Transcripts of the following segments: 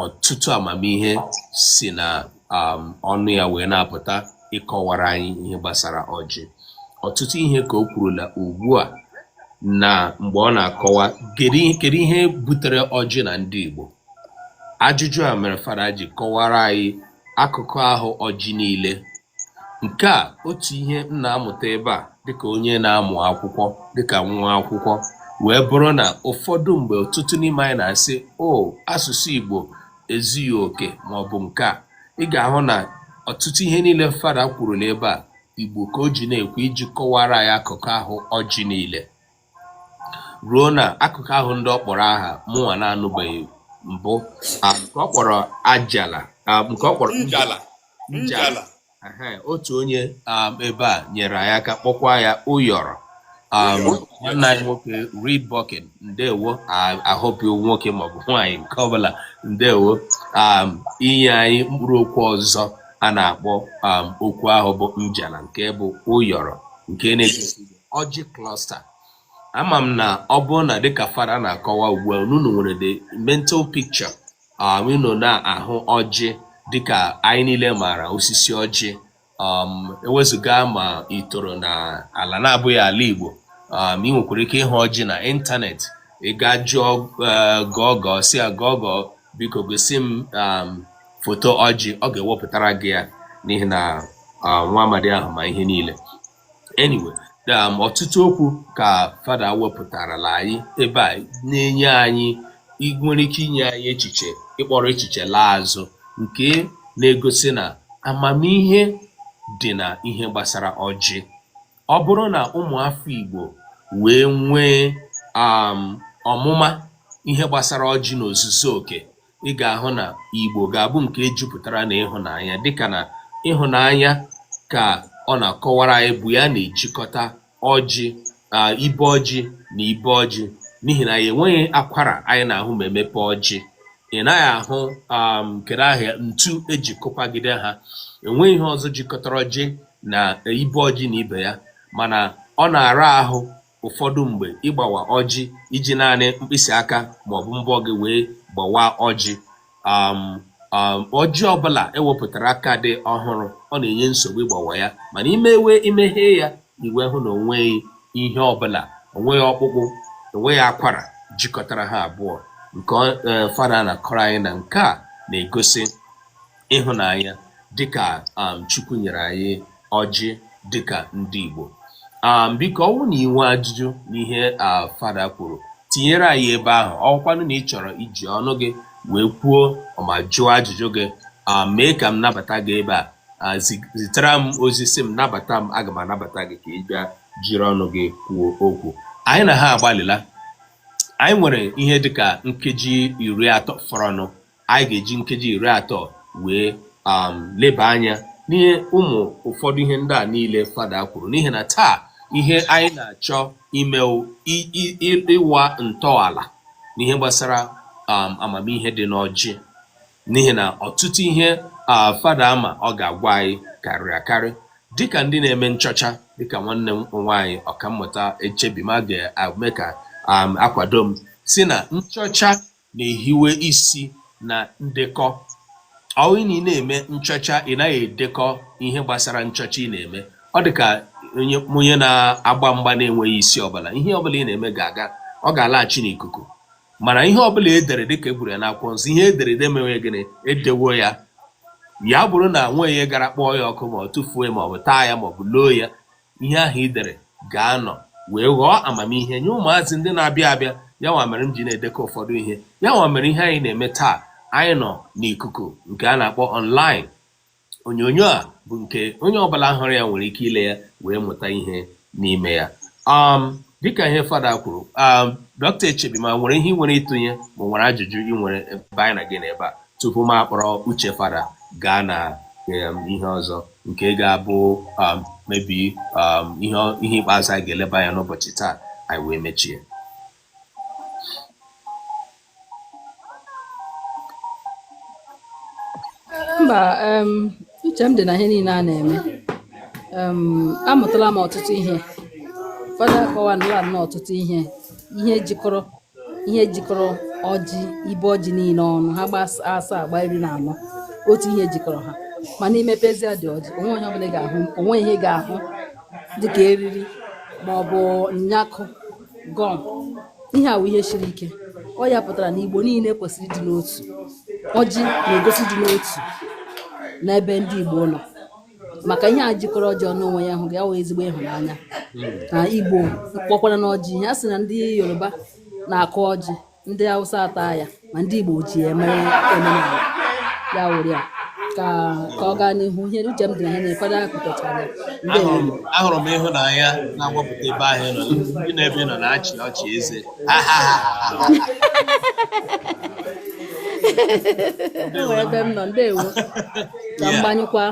ọtụtụ amamihe si na um, ọnụ ya wee na-apụta ịkọwara anyị ihe gbasara ọjị ọtụtụ ihe ka o kwurula ugbu a na mgbe ọ na-akọwa kedu ihe butere ọjị na ndị Igbo ajụjụ a mere fada ji kọwara anyị akụkụ ahụ ọjị niile Nke a otu ihe m na-amụta ebe a dịkà onye na-amụ akwụkwọ dịkà nwa akwụkwọ wee bụrụ na ụfọdụ mgbe ọtụtụ n'ime anyị na-asị oh asụsụ Igbo ezughị oke maọbụ nke a ị ga-ahụ na ọtụtụ ihe niile fada kwuru n'ebe a Igbo ka o ji na-ekwu iji kọwara anyị akụkụ ahụ ọjị niile ruo na akụkụ ahụ ndị ọ kpọrọ aha mụnwa na-anụbeghị mbụ ah, nke ọ kpọrọ ajala ah, nke ọ kpọrọ njala njala Ehe, otu onye um, ebe a nyere anyị aka kpọkwa ya ụyọrọ um, nwanne anyị nwoke Reed Bucking ndewo I- I hope ọ nwoke maọbụ nwaanyị nke ọbụla ndewo um, inye anyị mkpụrụ okwu ọzọ a na-akpọ um, okwu ahụ bụ njala nke bụ ụyọrọ nke na-egosi ọjị cluster ama m na ọ bụrụ na dịka fada na-akọwa ugbu a unu nwere the mental picture um, unu na-ahụ ọjị dịka anyị niile maara osisi ọjị um, ewezụga ma i toro na ala na-abụghị ala Igbo um, ị nwekwara ike ịhụ ọjị na ịntanetị ị gaa jụọ eh, Google sị ya Google biko gosi m um, foto ọjị ọ ga-ewepụtara gị ya n'ihi na uh, nwa amadi ahụ ma ihe niile anyway um, ọtụtụ okwu ka fada wepụtarala anyị ebe a na-enye anyị nwere ike inye anyị echiche ịkpọrọ echiche laa azụ nke na-egosi na amamihe dị na ihe gbasara ọjị ọ bụrụ na ụmụafọ Igbo wee nwee um, ọmụma ihe gbasara ọjị n'ozuzu oke ị ga-ahụ na Igbo ga-abụ nke e jupụtara na ịhụnanya dịka na ịhụnanya ka ọ na-akọwara anyị bụ ya na-ejikọta ọjị ibe ọjị na ibe ọjị n'ihi na ya enweghị akwara anyị na-ahụ ma emepe ọjị ị naghị ahụ um, kedu aha ya ntu eji kụpagide ha enweghị ihe ọzọ jikọtara ọjị na ibe ọjị na ibe ya mana ọ na-ara ahụ ụfọdụ mgbe ịgbawa ọjị iji naanị mkpịsị aka maọbụ mbọ gị wee gbawa ọjị um, um, ọjị ọbụla ewepụtara ka dị ọhụrụ ọ na-enye nsogbu ịgbawa ya mana i mewe i meghee ya i wee hụ na onweghị ihe ọbụla onweghị ọkpụkpụ onweghị akwara jikọtara ha abụọ nke eh, fada na-akọrọ anyị na nke a na-egosi ịhụnanya dịka um, Chukwu nyere anyị ọjị dịka ndị Igbo um, biko ọ wụ na i nwee ajụjụ n'ihe uh, fada kwuru tinyere anyị ebe ahụ ọkwanụ na ị chọrọ iji ọnụ gị wee kwuo ma jụọ ajụjụ gị um, mee ka m nabata gị ebe a uh, zitara m ozi sị m nabata m aga m anabata gị ka ị bịa jiri ọnụ gị kwuo okwu anyị na ha agbalịla anyị nwere ihe dịka nkeji iri atọ fọrọnụ anyị ga-eji nkeji iri atọ wee um, leba anya n'ihe ụmụ ụfọdụ ihe ndị a niile fada kwuru n'ihi na taa ihe anyị na-achọ ime ịwa ntọala n'ihe gbasara um, amamihe dị n'ọjị n'ihi na ọtụtụ ihe uh, fada ama ọ ga-agwa anyị karịrị akarị dịka ndị na-eme nchọcha dịka nwanne m nwaanyị ọkammụta echebima ga-eme ka um, akwado m sị na nchọcha na-ehiwe isi na ndekọ ọ bụrụ na ị na-eme nchọcha ị naghị edekọ ihe gbasara nchọcha ị na-eme ọ dị ka onye onye na-agba mgba na-enweghị isi ọbụla ihe ọbụla ị na-eme ga-aga ọ ga-alaghachi n'ikuku mana ihe ọbụla e dere dịka e kwuru ya n'akwụkwọ nsọ ihe e dere ede e mewe gịnị e dewo ya ya bụrụ na i weghị ya gara kpọọ ya ọkụ ma ọ tụfuo ya ma ọ bụ taa ya ma ọ bụ loo ya ihe ahụ i dere ga-anọ wee ghọọ amamihe nye ụmụazị ndị na-abịa abịa ya nwa mere m ji na-edekọ ụfọdụ ihe ya nwa mere ihe anyị na-eme taa anyị nọ n'ikuku nke a na-akpọ online onyonyo a bụ nke onye ọbụla hụrụ ya nwere ike ile ya wee mụta ihe n'ime ya um, dịka ihe fada kwuru um, dọkịta echebima nwere ihe i nwere ịtụnye ma nwere ajụjụ i nwere ebe anyị na gị nọ ebe a tupu m akpọrọ uche fada gaa na um, ihe ọzọ nke ga-abụ um, maybe um, ihe ikpeazụ anyị ga-eleba anya n'ụbọchị taa anyị wee mechie mba um, uche m dị na ihe niile a na-eme amụtala m ọtụtụ ihe fada akọwala nnọọ ọtụtụ ihe ihe jikọrọ ihe jikọrọ ọjị ibe ọjị niile ọnụ ha gbaa asaa gbaa iri na anọ otu ihe jikọrọ ha mana i mepezia dị ọjị o nweghị ihe ọbụla ị ga-ahụ o nweghị ihe ị ga-ahụ dịka eriri ma ọ bụ nyakụ gum ihe a wụ ihe siri ike ọ ya pụtara na igbo niile kwesịrị ịdị n'otu ọjị na-egosi ịdị n'otu n'ebe ndị igbo nọ maka ihe a jikọrọ ọjị ọnụ onwe ya hụ gị awụ ezigbo ịhụnanya na igbo kpọkwara n'ọjị ihe a sị na ndị yoruba na-akụ ọjị ndị hausa ata ya ma ndị igbo ji ya mere omenala ya wụrụ ya ka ka ọ gaa n'ihu ihe uche m dị na ihe na-ekwado akụtachara ya ndị ahụrụ m ahụrụ m ịhụnanya na-agbapụta ebe ahụ ị nọ gị na ebe ị nọ na-achị ọchị eze Ha, ha, ha, ha, ha. e nwere ebe m nọ ndewo ka m gbanyụkwa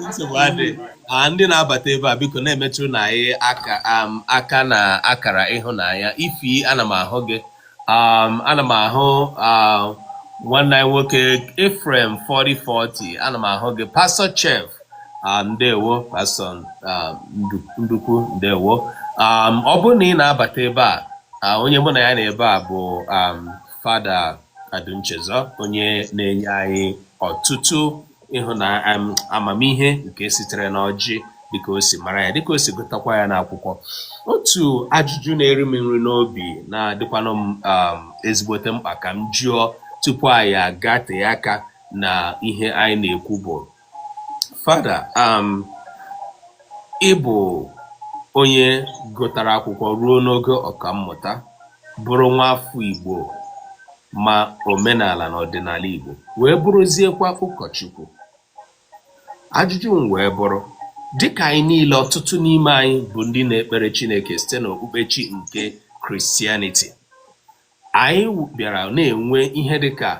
nsogbu adịa ndị na-abata ebe a biko na-emetụrụnụ anyị aka um, aka na akara ịhụnanya Ify ana m ahụ gị um, ana m ahụ um, nwanne anyị nwoke Ephraim 4040 ana m ahụ gị pastọ chef um, ndewo pastọ um, Ndu- ndukwu ndewo um, ọ bụrụ na ị na-abata ebe a ah, onye mụ na ya nọ ebe a bụ um, fada Adunchezọ onye na-enye anyị ọtụtụ ịhụna amamihe nke sitere n'ọjị dịka o si mara ya dịka o si gụtakwa ya n'akwụkwọ otu ajụjụ na-eri m nri n'obi na-adịkwanụ m um, ezigbote mkpa ka m jụọ tupu anyị agatee aka na ihe anyị na-ekwu bụ Fada, um ị bụ onye gụtara akwụkwọ ruo n'ogo ọkammụta, bụrụ nwa afọ Igbo ma omenala na ọdịnala Igbo, wee bụrụziekwa ụkọchukwu. Ajụjụ m wee bụrụ, dịka anyị niile ọtụtụ n'ime anyị bụ ndị na-ekpere Chineke site n'okpukpechi nke Christianity, Anyị bịara na-enwe ihe dịka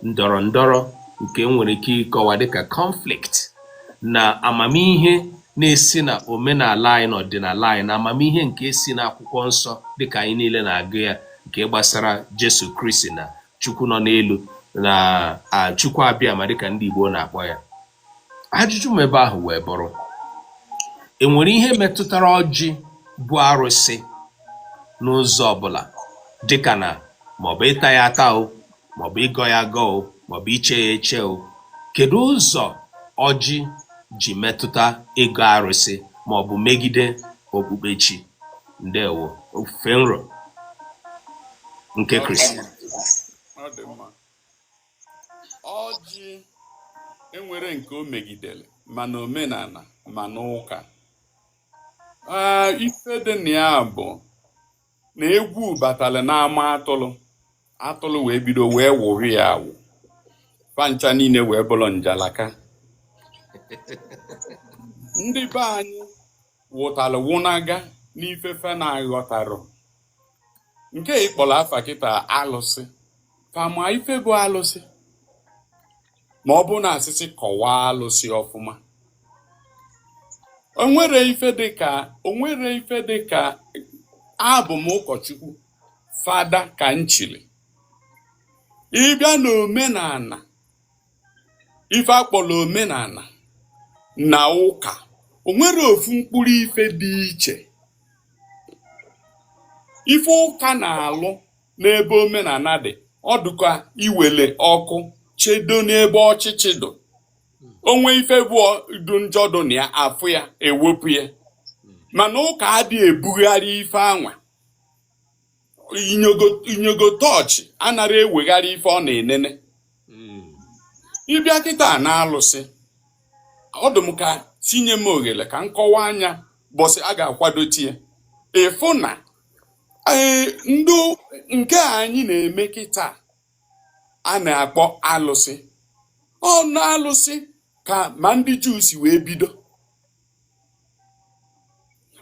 ndọrọ ndọrọ nke e nwere ike ịkọwa dịka conflict na amamihe na-esi na omenala anyị na ọdịnala anyị na amamihe nke si n'akwụkwọ nsọ dịka anyị niile na-agụ ya nke gbasara Jesu Kristi na Chukwu nọ n'elu na a, Chukwu Abịama dịka ndị Igbo na-akpọ ya. Ajụjụ m ebe ahụ wee bụrụ, e nwere ihe metụtara ọjị bụ arụsị n'ụzọ ọbụla dịka na maọbụ ịta ya ata o maọbụ ịgọ ya agọ o maọbụ iche ya eche o kedu ụzọ ọjị ji metụta ịgọ arụsị maọbụ megide okpukpechi ndị ofufe nro nke Kristi. Ọ dị mma. ọjị enwerọ nke o megidere ma na omenala ma n'ụka ife dị na ya bụ na egwu batara n'ama atụrụ atụrụ wee bido wee wụrụ ya awụ fa ncha niile wee bụrụ njalaka ndị be anyị wụtara wụnaga n'ife fa na-aghọtarọ nke ịkpọrọ afa kịta alụsị fa ma ife bụ alụsị ma ọ bụrụ na a sị sị kọwaa alụsị ọfụma onwere ife dịka onwere ife dịka abụ m ụkọchukwu fada ka m chili ịbịa n'omenala ife akpọrọ omenala na ụka o nwere ofu mkpụrụ ife dị iche ife ụka na-alụ n'ebe omenala dị ọ dụka iwele ọkụ chedo n'ebe ọchịchị dụ o nwee ife bụ ọ- dụ njọ dụ na ya afụ ya ewepụ ya mana ụka adịghị ebugharị ife anwa inyogo tọọchị anara ewegharị ife ọ na-enene hmm. ịbịa kịta na alụsị ọ dụ m ka sị nye m oghere ka m kọwaa nya bọsị a ga-akwado tinye ịfụ na e, ndị nke anyị na-eme kịta a na-akpọ alụsị ọ n'alụsị ka ma ndị juu si wee bido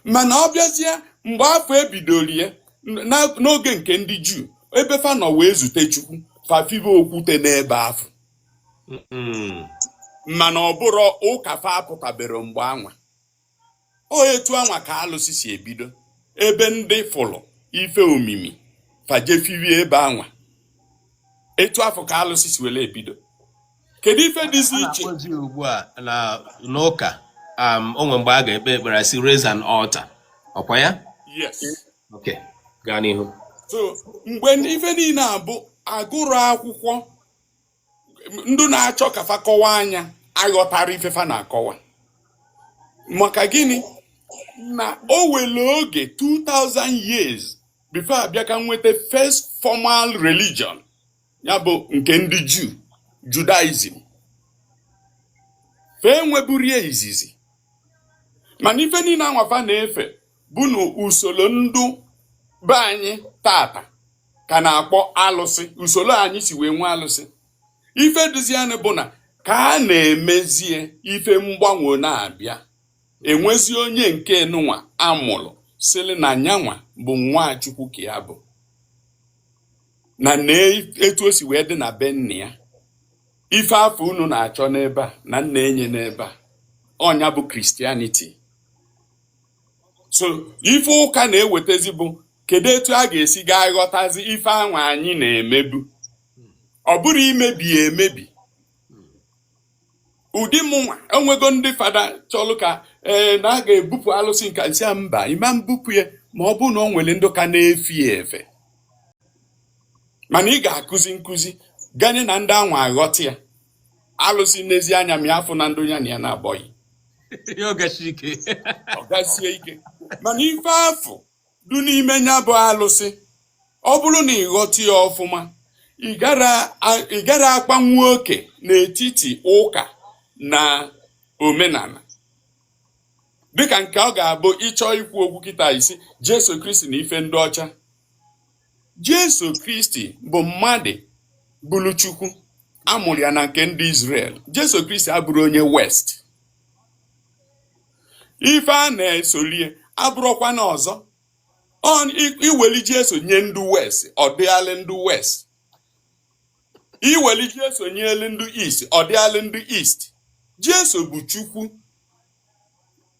mana ọ bịazie mgbe afụ ebidoro ya na- n'oge nke ndị juu ebe fa nọ wee zute chukwu fa fibe okwute n'ebe afụ Mm. mana ọ bụrọ ụka fa apụtabere mgbe anwa o etu anwa ka alụsị si ebido ebe ndị fụlụ ife omimi fa jefirie ebe anwa etu afụ ka alụsị si were ebido kedu ife dịzi iche ugbu a na n'ụka um, o nwere mgbe a ga-ekpe ekpere sị raise an altar ọkwa ya yes okay gaa n'ihu so mgbe ife niile a bụ agụrụ akwụkwọ ndị na-achọ ka fa kọwaa nya aghọtara ife fa na-akọwa maka gịnị na o were oge 2000 years before abịa ka nweta first formal religion ya bụ nke ndị juu Judaism ife e nweburie izizi mana ife niile anwa fa na-efe bụ na usoro ndị be anyị tata ka na-akpọ alụsị usoro anyị si wee nwee alụsị ife dịzianụ bụ na ka a na-emezie ife mgbanwe na-abịa enwezi onye nke nụnwa amụrụ sịrị na nyanwa bụ nwa chukwu ka ya bụ na na etu o si wee dị na be nna ya ife afụ unu na-achọ n'ebe a na m na-enye n'ebe a ọ nya bụ Christianity so ife ụka na-ewetazi bụ kedu etu a ga-esi gaa ghọtazi ife anwa anyị na-emebu ọ bụrọ imebi ya emebi ụdị mụnwa enwego ndị fada chọlụ ka ee na a ga-ebupụ alụsị nka nsị a mba ị ma mbupụ ya ma ọ bụ na ọ nwere ndị ka na-efe ya efe mana ị ga-akụzi nkụzi ganye na ndị anwa aghọta ya alụsị n'ezi anya ma ya afụ na ndị ya na ya na-abọghị ọ ga-esi ike mana ife afụ dụ n'ime ya bụ alụsị ọ bụrụ na ị ghọta ya ọfụma ị gara akpanwu oke n'etiti ụka na omenala dịka nke ọ ga-abụ ị chọọ ikwu okwu kịta ị sị Jesu Kristi na ife ndị ọcha Jesu Kristi bụ mmadụ bụrụ Chukwu a mụrụ ya na nke ndị Izrel Jesu Kristi abụrọ onye West ife a na-esolie abụrọkwana ọzọ i weli Jesu nye ndị west ọ dịalị ndị west i weli Jesu nyelu ndị east ọ dịalị ndị east Jesu bụ Chukwu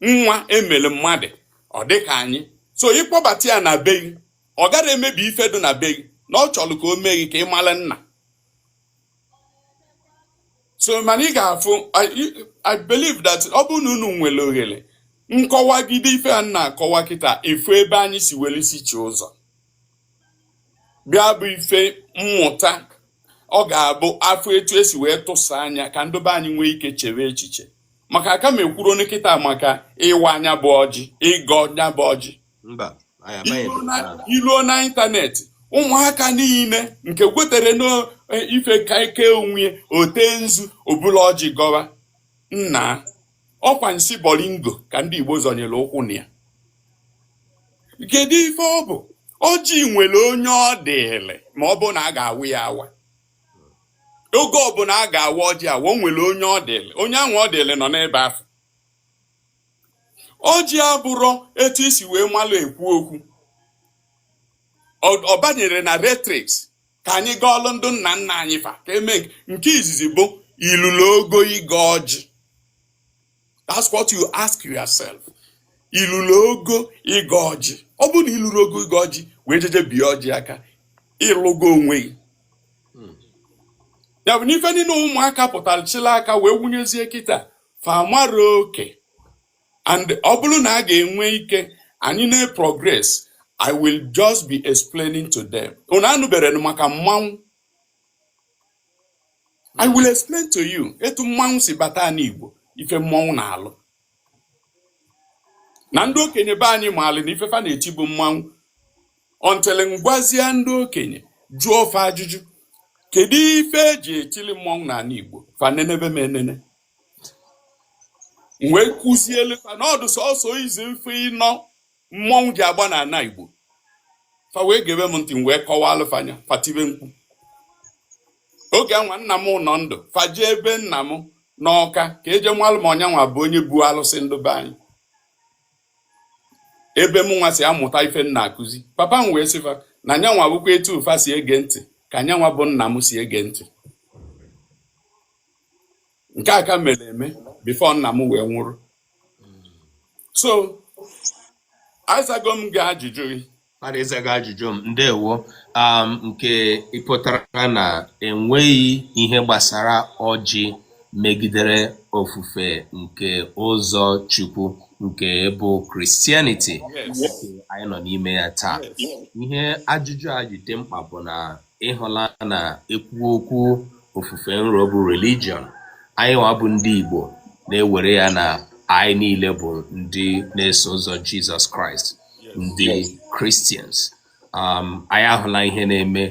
nwa e mere mmadụ ọ dịka anyị so ị kpọbata ya na be gị ọ gara emebi ife dị na be gị na ọ chọrọ ka o mee gị ka ị mara nna so mana ị ga-afụ I believe that ọ bụrụ na unu nwere ohere nkọwagide ife a na-akọwa kịta ị fụ ebe anyị si were isi chee ụzọ bịa bụ ife mmụta ọ ga-abụ a fụ etu e si wee tụsa anya ka ndị be anyị nwee ike chere echiche maka aka m ekwurọnụ kịta maka ịwa nya bụ ọjị ịgọ nya bụ ọjị i luo na ịntanetị ụmụaka niile nke kwetere n'ife ka ike onwe o te nzu o bulu ọjị gọwa nna ọkwa nsị bolingo ka ndị Igbo zọnyere ụkwụ na ya kedu ife ọ bụ ọjị nwere onye ọ dịrị ma ọ bụ na a ga-awa ya awa oge ọbụla a ga-awa ọjị awa o nwere onye ọ dịrị onye ahụ ọ dịrị nọ n'ebe afọ ọjị abụrọ etu i si wee malụ ekwu okwu ọ banyere na rhetorics ka anyị gọọlụ ndị nna nna anyị fa ka eme nke izizi bụ i lulu ogo ịgọ ọjị that's what you ask yourself i lulu ogo ịgọ ọjị ọ bụrụ na i lurọ ogo ịgọ ọjị wee jeje bie ọjị aka ị lụgo onwe gị ya bụ n'ife niile ụmụaka pụtara chịla aka wee wụnyezie kịta fa amarọ oke and ọ bụrụ na a ga-enwe ike anyị na-progress I will just be explaining to them unu anụberọ maka mmanwụ I will explain to you etu mmanwụ si bata anị Igbo ife mmanwụ na-alụ na ndị okenye be anyị maali na ife fa na-eti bụ mmanwụ until m gwazie ndị okenye jụọ fa ajụjụ kedu ife eji etili mmọnwụ n'ala Igbo fa nenebe m enene m wee kụzielu fa na ọ dụ sọsọ isi ife ịnọ mmọnwụ ji agba n'ala Igbo fa wee gebe m ntị wee kọwaalụ fa nya fa tibe mkpu oge anwa nna m nọ ndụ fa jee ebe nna m n'Ọka ka e je malụ ma ọ nyanwa bụ onye bu alụsị ndụ be anyị ebe m nwa si amụta ife m na-akụzi papa m wee sị fa na nyanwa bụkwa etu fa si ege ntị ka nyanwa bụ nna m si ege ntị nke a ka mere eme before nna m wee nwụrụ so azago m gị ajụjụ gị mmadụ ị zago ajụjụ m ndewo um, nke ị pụtara na enweghị ihe gbasara ọjị megidere ofufe nke ụzọ Chukwu nke bụ Christianity anyị nọ n'ime ya taa ihe ajụjụ a ji dị mkpa bụ na ị hụla na e kwuo okwu ofufe nro bụ religion anyị nwa bụ ndị Igbo na-ewere ya na anyị niile bụ ndị na-eso ụzọ Jizọs Kraịst ndị Christians um, anyị ahụla ihe na-eme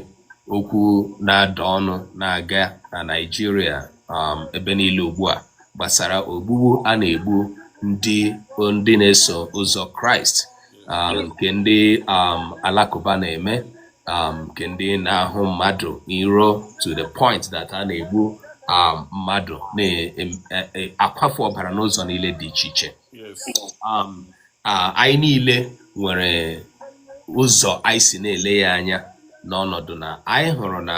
okwu na-ada ọnụ na-aga na Naịjirịa um, ebe niile ugbu a gbasara ogbugbu a na-egbu ndị ndị na-eso ụzọ Kraịst um, nke ndị um, Alakụba na-eme um, nke ndị na-ahụ mmadụ iro to the point that a na-egbu um, mmadụ na-akwafu e, e, ọbara n'ụzọ niile dị iche iche um, um anyị niile nwere ụzọ anyị si na-ele ya anya n'ọnọdụ na anyị hụrụ na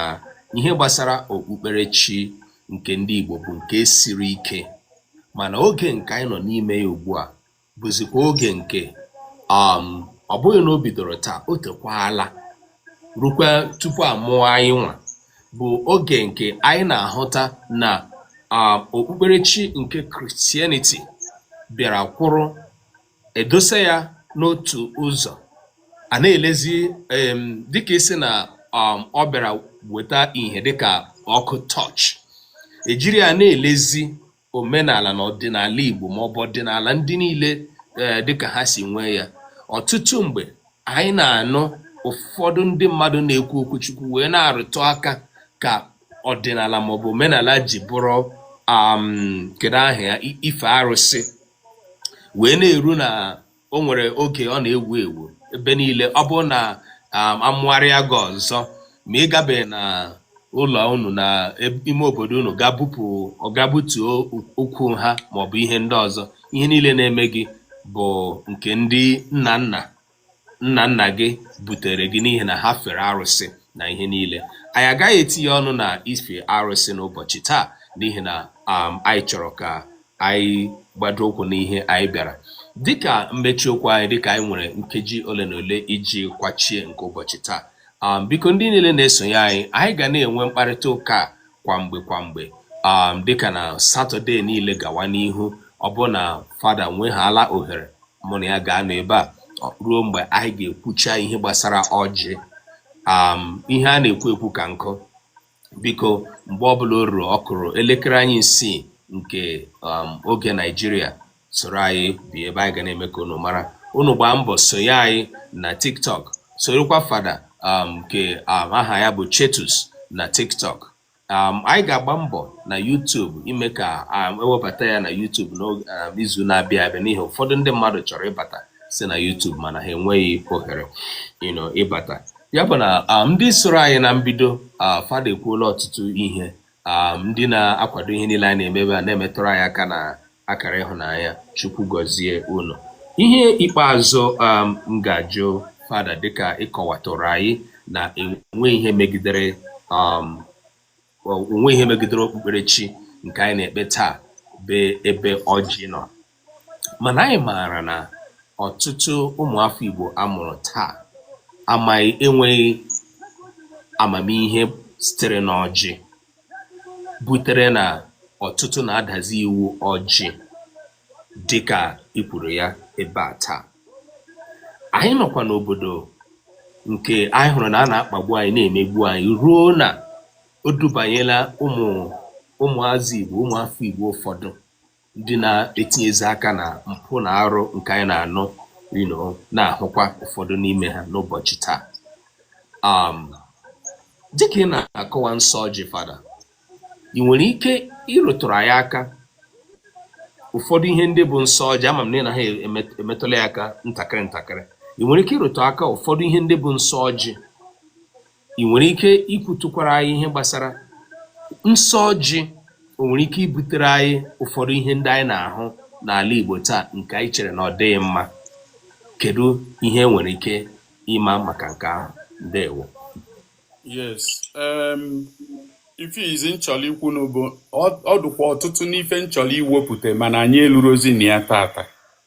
ihe gbasara okpukperechi nke ndị Igbo bụ nke siri ike mana oge nke anyị nọ n'ime ya ugbu a bụzikwa oge nke um ọ bụghị na o bidoro taa o tekwala rukwa tupu a mụọ anyị nwa bụ oge nke anyị na-ahụta na um okpukperechi nke Christianity bịara kwụrụ, e dosa ya n'otu ụzọ, a na-elezi um dịka ị sị na um ọ bịara weta ihe dịka ọkụ torch, e jiri ya na-elezi omenala na ọdịnala Igbo ma ọ bụ ọdịnala ndị niile eh, dịka ha si nwee ya ọtụtụ mgbe anyị na-anụ ụfọdụ ndị mmadụ na-ekwu okwu Chukwu wee na-arụtụ aka ka ọdịnala maọbụ omenala ji bụrụ um, kedu aha ya ife arụsị wee na-eru na o nwere oge ọ na-ewu ewu ebe niile ọ bụrụ na um, a mụgharịa gị ọzọ ma ị gabeghị na ụlọ unu na ime obodo unu gaa bupụ gaa butuo okwu ha maọbụ ihe ndị ọzọ ihe niile na-eme gị bụ nke ndị nna nna nna nna gị butere gị n'ihi na ha fere arụsị na ihe niile anyị agaghị etinye ọnụ na ife arụsị n'ụbọchị taa n'ihi na um, anyị chọrọ ka anyị gbado ụkwụ n'ihe anyị bịara dịka mmechi okwu anyị dịka anyị nwere nkeji ole na ole iji kwachie nke ụbọchị taa um, biko ndị niile na-esonye anyị anyị ga na-enwe mkparịta ụka kwa mgbe kwa mgbe um, dịka na satọde niile gawa n'ihu ọ bụrụ na fada nwehaala ohere mụ na ya ga-anọ ebe a ruo mgbe anyị ga-ekwucha ihe gbasara ọjị um, ihe a na-ekwu ekwu ka nkụ biko mgbe ọbụla o ruru ọ kụrụ elekere anyị isii nke um, oge naijiria soro anyị bịa ebe a anyị ga na-eme ka unu mara unu gbaa mbọ sonye anyị na tiktok sorokwa fada um, nke um, aha ya bụ chetus na tiktok um, anyị ga-agba mbọ na YouTube ime ka um, e webata ya na YouTube n'izu um, na-abịa abịa n'ihi ụfọdụ ndị mmadụ chọrọ ịbata si na YouTube mana ha enweghị ohere ịbata ya bụ na um, ndị soro anyị na mbido uh, fada ekwuola ọtụtụ ihe um, ndị na-akwado ihe niile anyị na-eme ebe a na-emetụrụ anyị aka na akara ịhụnanya chukwu gọzie unu ihe ikpeazụ um, m ga-ajụ fada dịka ị kọwatụrụ anyị na enweghị ihe megidere um, o nweghị ihe megidere okpukperechi nke anyị na-ekpe taa bụ ebe ọjị nọ mànà anyị mààrà nà ọ̀tụtụ ụmụ̀ afọ Igbò a mụ̀rụ̀ taà amaghị enwēghị àmàmihe sitere n'ọjị butere nà ọ̀tụtụ nà-adàzi iwu ọjị̄ dịkà i kwùrù ya ebe à taà ànyị nọ̀kwà n'òbòdò ǹkè anyị hụ̀rụ̀ nà a nà-akpàgbu anyị na-èmegbu anyị ruo nà o dubànyela ụmụ̀ ụmụ̀azị Ìgbò, ụmụ̀ afọ Ìgbò ụfọdụ ndị na-etinyezi aka na mpụ na arụ nke anyị na-anụ you know, na-ahụkwa ụfọdụ n'ime ha n'ụbọchị taa um, dịka ị na-akọwa nsọ ọjị fada ị nwere ike ịrụtụrụ anyị aka ụfọdụ ihe ndị bụ nsọ ọjị ama m na ị naha emetụla ya aka ntakịrị ntakịrị ị nwere ike ịrụtụ aka ụfọdụ ihe ndị bụ nsọ ọjị ị nwere ike ikwutukwara anyị ihe gbasara nsọ ọjị o nwere ike ibutere anyị ụfọdụ ihe ndị anyị na-ahụ n'ala Igbo taa nke anyị chere na ọ dịghị mma kedu ihe i nwere ike ịma maka nke ahụ ndewo yes um, ife izizi m chọlọ ikwu nụ bụ ọ dụkwa ọtụtụ n'ife m chọlọ iwepụta mana anyị elurozi na ya taata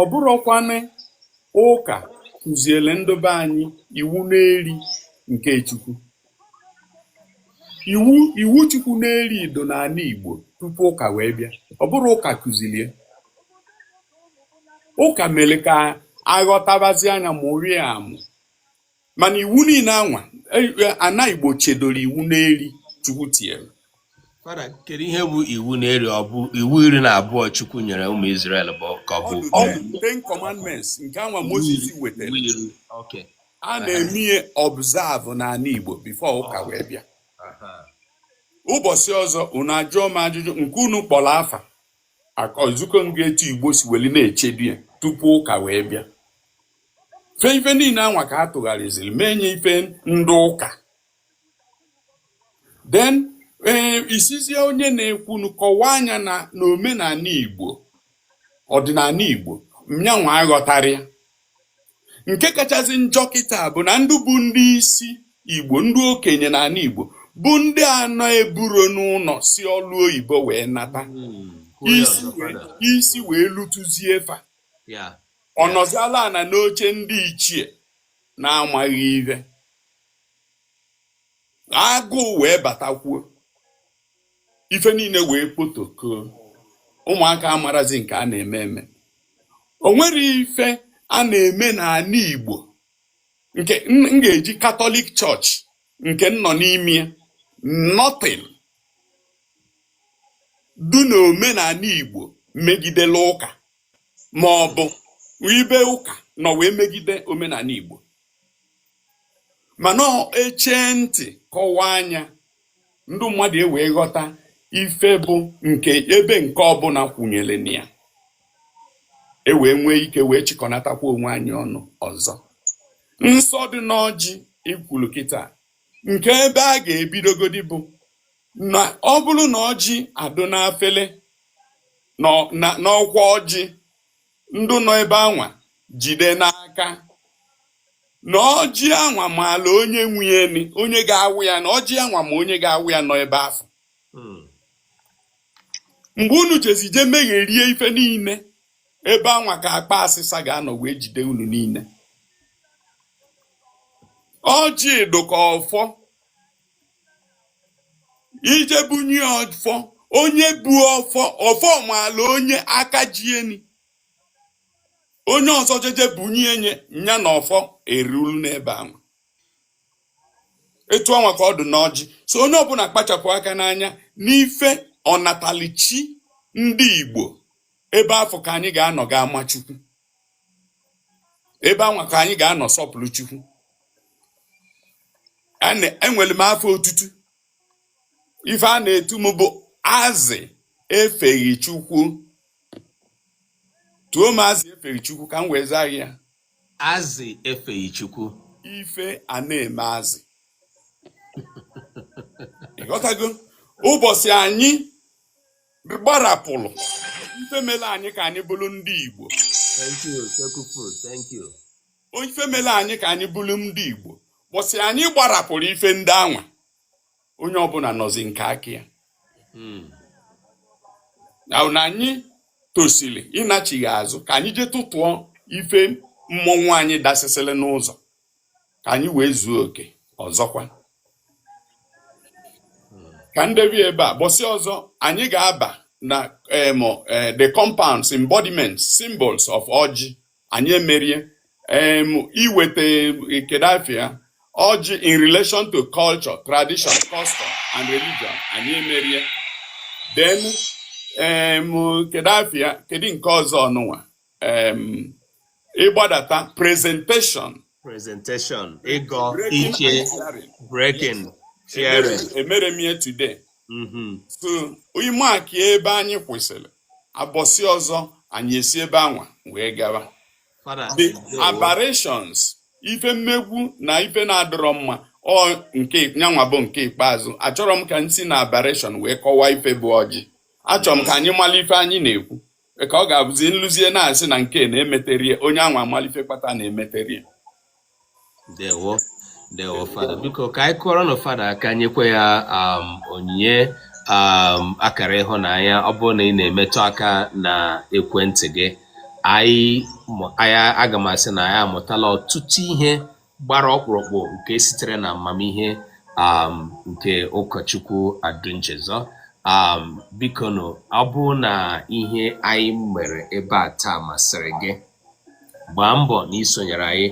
ọ bụrọkwanụ ụka kụziele ndị be anyị iwu n'eri nke Chukwu iwu Chukwu n'eri du n'ana Igbo tupu ụka wee bịa ọ bụrọ ụka kụzili ya ụka mere ka a ghọtabazia nya mụrie amụ mana iwu niine anwa e- e- ana igbo chedoro iwu n'eri chukwu tinyere Fada, kedu ihe bụ iwu na-eri ọ bụ iwu iri na abụọ Chukwu nyere ụmụ Izrel bụ ka ọ ọ bụ the ten ten commandments nke anwa iwu moses iri? wetara Iwu iri. Okay. a Aha. na-eme ya observe n'ana igbo before ụka wee bịa Aha. ụbọchị ọzọ unu ajụọ m ajụjụ nke unu kpọrọ afa aka nzukọ m ga-etu igbo si weli na-echedo ya tupu ụka wee bịa fe ife niile anwa ka a tụgharịziri mee nya ife ndị ụka then ee eh, ị sizie onye na-ekwunu kọwaa nya na omenala Igbo ọdịnala Igbo ma nyanwa aghọtarọ ya nke kachasị njọ kịta bụ na ndị bụ ndị isi Igbo ndị okenye n'ana Igbo bụ ndị anọburọ n'ụnọ si ọlụ oyibo wee nata hmm, isi wee lutuzie fa ọ nọziala ana n'oche ndị ichie na-amaghị ihe agụụ wee batakwuo ife niile wee potokoo ụmụaka amarọzi nke a na-eme eme o nwerọ ife a na-eme n'ana Igbo nke m ga-eji Catholic Church nke m nọ n'ime ya nothing du na omenala Igbo megidela ụka ma ọ bụ ebe ụka nọ wee megide omenala Igbo mana e chee ntị kọwaa nya ndị mmadụ e wee ghọta ife bụ nke ebe nke ọbụla kwụnyere na ya e wee nwee ike wee chịkọnatakwa onwe anyị ọnụ ọzọ nsọ dị n'ọjị i kwulu kịta nke ebe a ga-ebidogodi bụ na ọ bụrụ na ọjị adụ n'afele n'ọ- na- n'ọkwa ọjị ndị nọ ebe anwa jide n'aka na ọjị anwa maala onye nwe ya na onye ga-awa ya na ọjị anwa ma onye ga-awa ya nọ ebe afụ Mm. mgbe unu jezi je megherie ife niile ebe anwa ka akpa asịsa ga-anọ wee jide unu niile ọjị dụ ka ọfọ ije bunye ọfọ onye bu ọfọ ọfọ maala onye aka ji eni onye ọzọ jeje bunye enye nya na ọfọ eruru n'ebe anwa etu anwa ka ọ dị n'ọjị so onye ọbụna kpachapụ aka n'anya n'ife ọnatalụchi ndị igbo ebe afụ ka anyị ga-anọ ga-ama chukwu ebe anwa ka anyị ga-anọ sọpụrụ Chukwu enwelụ m afa otutu ife a na-etu m bụ azị efeghị Chukwu tuo m azị efeghị Chukwu ka m wee zaa ya azị efeghị Chukwu ife ana-eme azị ịghọtago ụbọsị anyị gbarapụrụ ife mere anyị ka anyị bụrụ ndị Igbo ife mere anyị ka anyị bụrụ ndị Igbo ụbọsị anyị gbarapụrụ ife ndị anwa onye ọbụna nọzi nke aka ya hmm. na anyị tosiri ịnachigha azụ ka anyị jee tụtụọ ife mmọnwụ anyị dasịsịrị n'ụzọ ka anyị wee zuo oke ọzọkwa ka m debe ebe a ụbọsị ọzọ anyị ga-aba na em, eh, the compounds embodiments symbols of ọjị anyị emerie em, iweta eh, kedu afa ya ọjị in relation to culture tradition custom and religion anyị emerie then em, kedu afa ya kedu nke ọzọ ọnụnwa um, ịgbadata presentation presentation ịgọ breaking iche and sharing breaking yes emere sharing emere m ya today mhm so ị maakịa ebe anyị kwụsịrị ụbọsị ọzọ anyị esi ebe anwa wee gawa fada the ndewo aberrations ife mmegbu na ife na-adịrọ mma ọ nke nyanwa bụ nke ikpeazụ achọrọ m ka m si na aberration wee kọwaa ife bụ ọjị achọrọ m ka anyị mara ife anyị na-ekwu ka ọ ga-abụzi nụzie na a sị na nke na emeterọ ya onye anwa amalụ ife kpata na emeterọ ya ndewo ndewo fada biko ka anyị kụọrọnụ fada aka nyekwa ya um, onyinye um, akara ịhụnanya ọ bụrụ na ị na-emetụ aka na ekwentị gị aga m asị na anyị amụtala ọtụtụ ihe gbara ọkpụrụkpụ nke sitere na amamihe um, nke ụkọchukwu Adunchezọ um, bikonụ ọ bụrụ na ihe anyị mere ebe a taa masịrị gị gbaa mbọ na isonyere anyị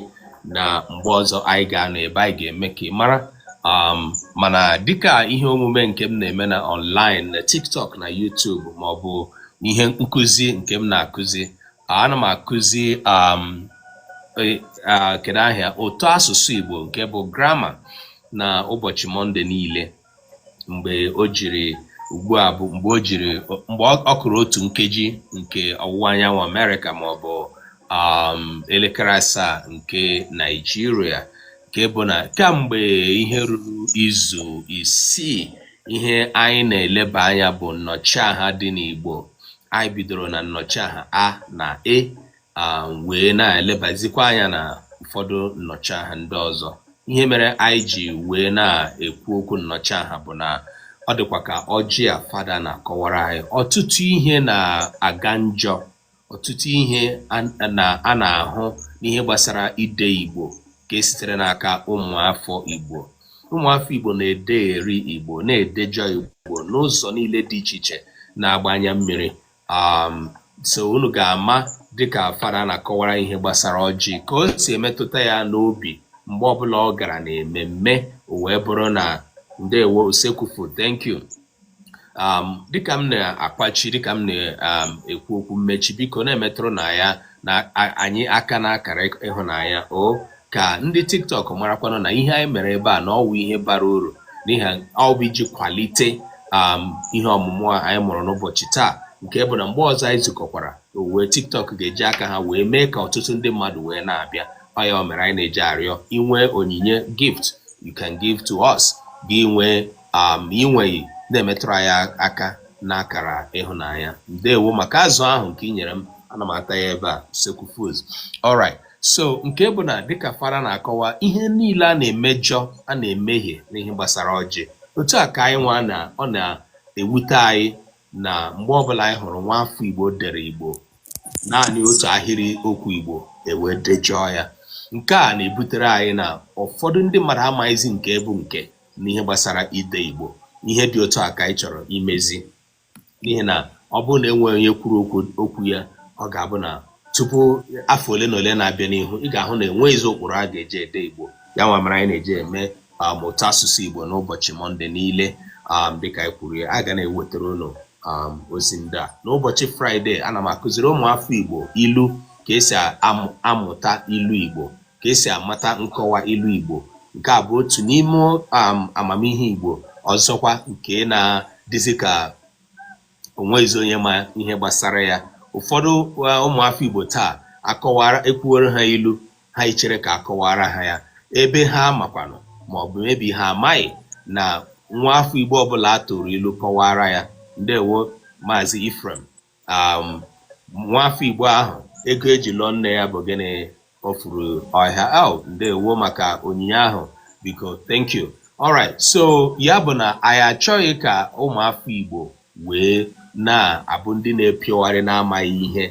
na mgbe ọzọ anyị ga-anọ ebe anyị ga-eme ka ị mara um, mana dịka ihe omume nke m na-eme na online na TikTok na YouTube maọbụ ihe nkụzi nke m na-akụzi ana m akụzi um, e, kedu aha ya ụtọ asụsụ Igbo nke bụ grama na ụbọchị Mọnde niile mgbe o jiri ugbu a bụ mgbe o jiri mgbe ọ kụrụ otu nkeji nke ọwụwa anyanwụ Amerịka ma ọ bụ um, elekere asaa nke Naijiria nke bụ na kamgbe ihe ruru izu isii ihe anyị na-eleba anya bụ nnọchiaha dị n'Igbo anyị bidoro na nnọchiaha a na e wee na-elebazikwa anya na ụfọdụ nnọchiaha ndị ọzọ ihe mere anyị ji wee na-ekwu okwu nnọchiaha bụ na ọ dịkwa ka ọjị a fada na-akọwara anyị ọtụtụ ihe na-aga njọ Ọtụtụ ihe a na-ahụ n'ihe gbasara ide Igbo ka e sitere n'aka ụmụafọ Igbo. Ụmụafọ Igbo na-ederi Igbo, na-edejọ Igbo n'ụzọ niile dị iche iche na-agba anya mmiri. Um, so unu ga-ama dịka fada na-akọwara ihe gbasara ọjị ka o si emetụta ya n'obi mgbe ọbụla ọ gara na ememme o wee bụrụ na ndewo Usekwu Food thank you um, dịka m na-akwachi dịka m na-ekwu um, okwu mmechi biko na-emetụrụnụ anyị aka na akara ịhụnanya o ka ndị tiktok marakwanụ na ihe anyị mere ebe a na ọ wụ ihe bara uru n'ihi ọ bụ iji kwalite um, ihe ọmụmụ a anyị mụrụ n'ụbọchị taa nke bụ na mgbe ọzọ anyị zukọkwara wee tiktok ga-eji aka ha wee mee ka ọtụtụ ndị mmadụ wee na-abịa ọ ya mere anyị na-eji arịọ i nwee onyinye gift you can give to us gị nwee um i nweghị na-emetụrụ anyị aka n'akara ịhụnanya ndewo maka azụ ahụ nke ị nyere m ana m ata ya ebe a Usekwu Foods alright so nke bụ na dịka fada na-akọwa ihe niile a na-emejọ a na-emehie n'ihe gbasara ọjị otu a ka anyị nwa na ọ na-ewute anyị na mgbe ọbụla anyị hụrụ nwa afọ igbo dere igbo naanị otu ahịrị okwu igbo e wee dejọọ ya nke a na-ebutere anyị na ụfọdụ ndị mmadụ amaghịzi nke bụ nke n'ihe gbasara ide Igbo ihe dị otu a ka anyị chọrọ imezi n'ihi na ọ bụrụ na enweghị onye kwuru okwu ya ọ ga-abụ na tupu afọ ole na ole na-abịa n'ihu ị ga-ahụ na enweghịzi ụkpụrụ a ga-eji ede Igbo ya nwa mere anyị na-eji eme um, ụtọ asụsụ Igbo n'ụbọchị Mọnde niile um, dịka anyị kwuru ya a ga na-ewetara unu um, ozi ndị a n'ụbọchị Fraịde ana m akụziri ụmụafọ Igbo ilu ka e si amụta ilu Igbo ka e si amata nkọwa ilu Igbo nke a bụ otu n'ime um, amamihe Igbo ọzọkwa nke na-adịzi ka o nweghịzi onye ma ihe gbasara ya ụfọdụ uh, ụmụafọ Igbo taa a kọwara e kwuwere ha ilu ha echere ka a kọwaara ha ya ebe ha makwanụ ma ọ bụ maybe ha amaghị na nwa afọ Igbo ọbụla a tụrụ ilu kọwaara ya ndewo Maazị Ephraim um, nwafọ Igbo ahụ ego eji lụọ nne ya bụ gịnị o furu ọhịa oh, ndewo maka onyinye ahụ biko thank you alright so ya bụ na anyị achọghị ka ụmụafọ Igbo wee na-abụ ndị na-epiogharị na-amaghị ihe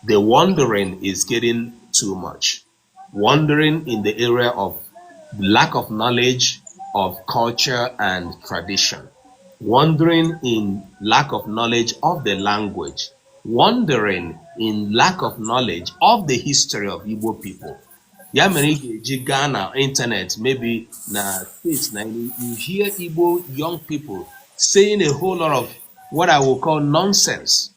the wandering is getting too much wandering in the area of lack of knowledge of culture and tradition, wandering in lack of knowledge of the language, wandering in lack of knowledge of the history of Igbo people. ya mere ị ga-eji gaa na ịntanetị maybe na steeti na you hear Igbo young people saying a whole lot of what I will call nonsense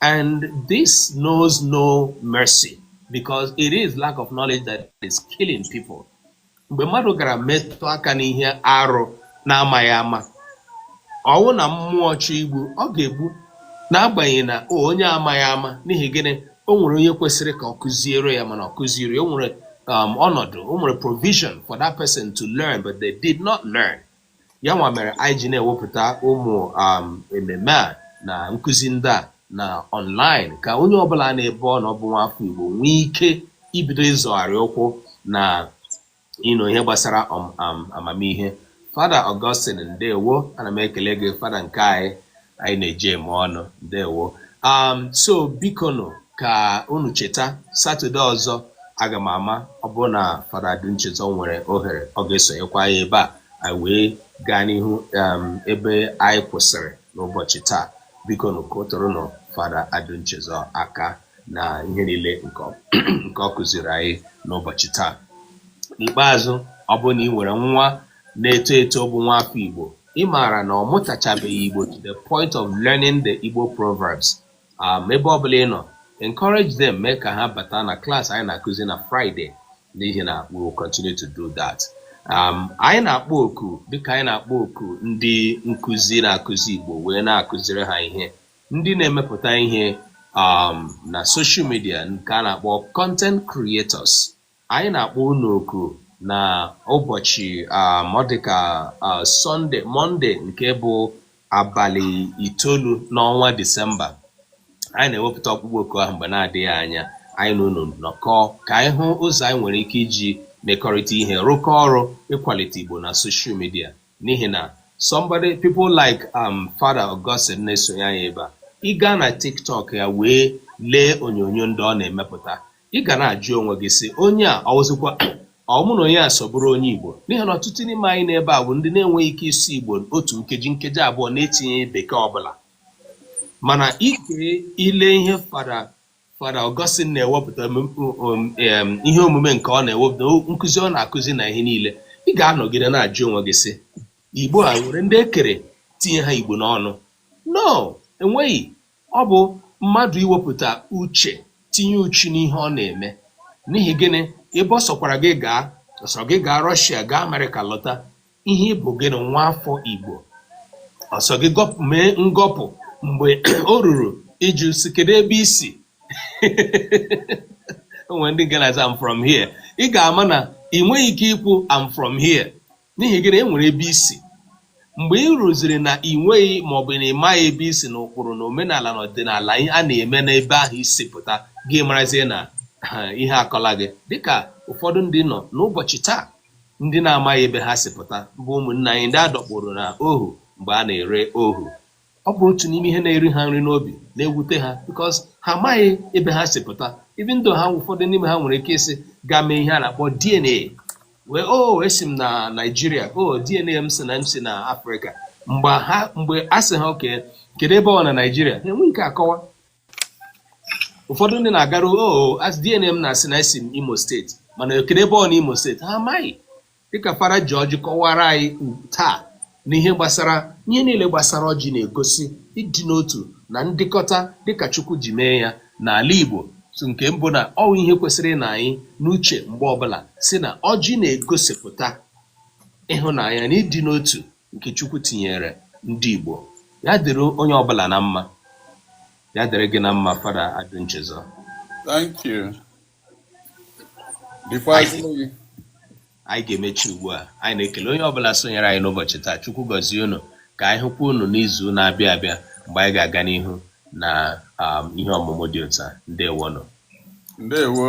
And this knows no mercy because it is lack of knowledge that is killing people. Mgbe mmadụ gara metụ aka n'ihe arụ na-amaghị ama, ọ wụ na mmụọ chọọ igbu, ọ ga-egbu n'agbanyeghị na onye amaghị ama n'ihi gịnị o nwere onye kwesịrị ka ọ kụziere ya mana ọ kụzierọ ya o nwere um, ọnọdụ o nwere provision for that person to learn but they did not learn. ya nwa mere anyị ji na-ewepụta ụmụ um, ememe a na nkụzi ndị a na online ka onye ọbụla n'ebe ọ nọ bụ nwafọ Igbo nwee ike ibido ịzọgharị ụkwụ na ịnụ ihe gbasara um, um, amamihe fada Augustine ndewo ana m ekele gị fada nke anyị anyị na-eji eme ọnụ ndewo um, so biko nụ ka unu cheta satọde ọzọ aga m ama ọ bụrụ na fada Adunchezọ nwere ohere ọ ga-esonyekwa ya ebe a anyị wee gaa n'ihu um, ebe anyị kwụsịrị n'ụbọchị taa biko nụ kụtụrụ nụ fada Adunchezọ aka na ihe niile nke ọ- nke ọ kụziri anyị n'ụbọchị taa n'ikpeazụ ọ bụrụ na ị nwere nwa na-eto eto bụ nwa afọ Igbo ị maara na ọ mụtachabeghị Igbo to the point of learning the Igbo proverbs um, ebe ọ bụla ị nọ encourage them mee ka ha bata na class anyị na-akụzi na Friday n'ihi na we will continue to do that. Um, anyị na-akpọ oku dịka anyị na-akpọ oku ndị nkụzi na-akụzi Igbo wee na-akụziri ha ihe ndị na-emepụta ihe um, na social media nke a na-akpọ content creators Anyị na-akpọ unu oku na ụbọchị um, ọ dịka uh, Sunday Monday nke bụ abalị itoolu n'ọnwa Disemba. Anyị na-ewepụta ọkpụkpọ oku ahụ mgbe na-adịghị anya anyị na unu nọkọọ ka anyị hụ ụzọ anyị nwere ike iji mekọrịta ihe rụkọ ọrụ ịkwalite Igbo na social media n'ihi na somebody people like um, Fada Augustine na-esonye anyị ebe a ị gaa na TikTok ya wee lee onyonyo ndị ọ na-emepụta ị ga na-ajụ onwe gị sị onye a ọ wụzikwa mụ na onye a so bụrụ onye Igbo n'ihi na ọtụtụ n'ime anyị n'ebe a bụ ndị na-enweghị ike ịsụ Igbo otu nkeji nkeji abụọ na-etinye Bekee ọbụla mana i kilie ihe fada fada Augustine na-ewepụta ihe omume nke ọ na-ewepụta nkụzi ọ na-akụzi na ihe niile ị ga-anọgide na-ajụ onwe gị sị Igbo a nwere ndị e kere tinye ha Igbo n'ọnụ no enweghị Ọ bụ mmadụ iwepụta uche tinye uchu n'ihe ọ na-eme. N'ihi gịnị? Ebe ọ sọkwara gị gaa, ọ sọ gị gaa Rọshịa, gaa Amerịka lọta, ihe ị bụ gịnị? Nwa afọ Igbo. Ọ sọ gị mee ngọpụ mgbe o ruru ịjụ sị kedu ebe i si? O nwere ndị nke na-aza I'm from here. Ị ga-ama na i nweghị ike ikwu I'm from here N'ihi gịnị? E nwere ebe i si. Mgbe i ruziri na i nweghị ma ọ bụ na ị maghị ebe i si na ụkpụrụ na omenala na ọdịnala a na-eme n'ebe ahụ i si pụta, gị marazie na ihe akọla gị. Dịka ụfọdụ ndị nọ n'ụbọchị taa, ndị na-amaghị ebe ha si pụta, bụ ụmụnna anyị ndị a dọkpụrụ na ohu mgbe a na-ere ohu. ọ bụ otu n'ime ihe na-eri ha nri n'obi na-ewute ha because ha amaghị ebe ha si pụta even though ha ụfọdụ n'ime ha nwere ike ịsị gaa mee ihe a na-akpọ DNA wee o oh, esi m na Naijiria o oh, DNA m sị na m si na Afrịka mgbe ha mgbe a sị ha okay kedu ebe ọ na Naijiria ha enweghị ike akọwa ụfọdụ ndị na-agaru o oh, DNA m na-asị na esi m Imo steeti mana kedu ebe ọ na Imo steeti ha amaghị dịka Fada George kọwara anyị taa n'ihe gbasara ihe niile gbasara ọjị na-egosi ịdị n'otu na ndịkọta dịka Chukwu ji mee ya n'ala Igbo so nke mbụ na ọ wụ ihe kwesịrị ịnọ anyị n'uche mgbe ọbụla sị na ọjị na-egosipụta ịhụnanya na ịdị n'otu nke Chukwu tinyere ndị Igbo ya dịrị onye ọbụla na mma ya dịrị gị na mma Fada Adunchezọ Thank you. anyị ga-emechi ugbu a anyị na-ekele onye ọbụla sonyere anyị n'ụbọchị taa chukwu gọzie unu ka anyị hụkwa unu n'izu na-abịa abịa mgbe anyị ga-aga n'ihu na um, ihe ọmụmụ dị otu a ndewonụ ndewo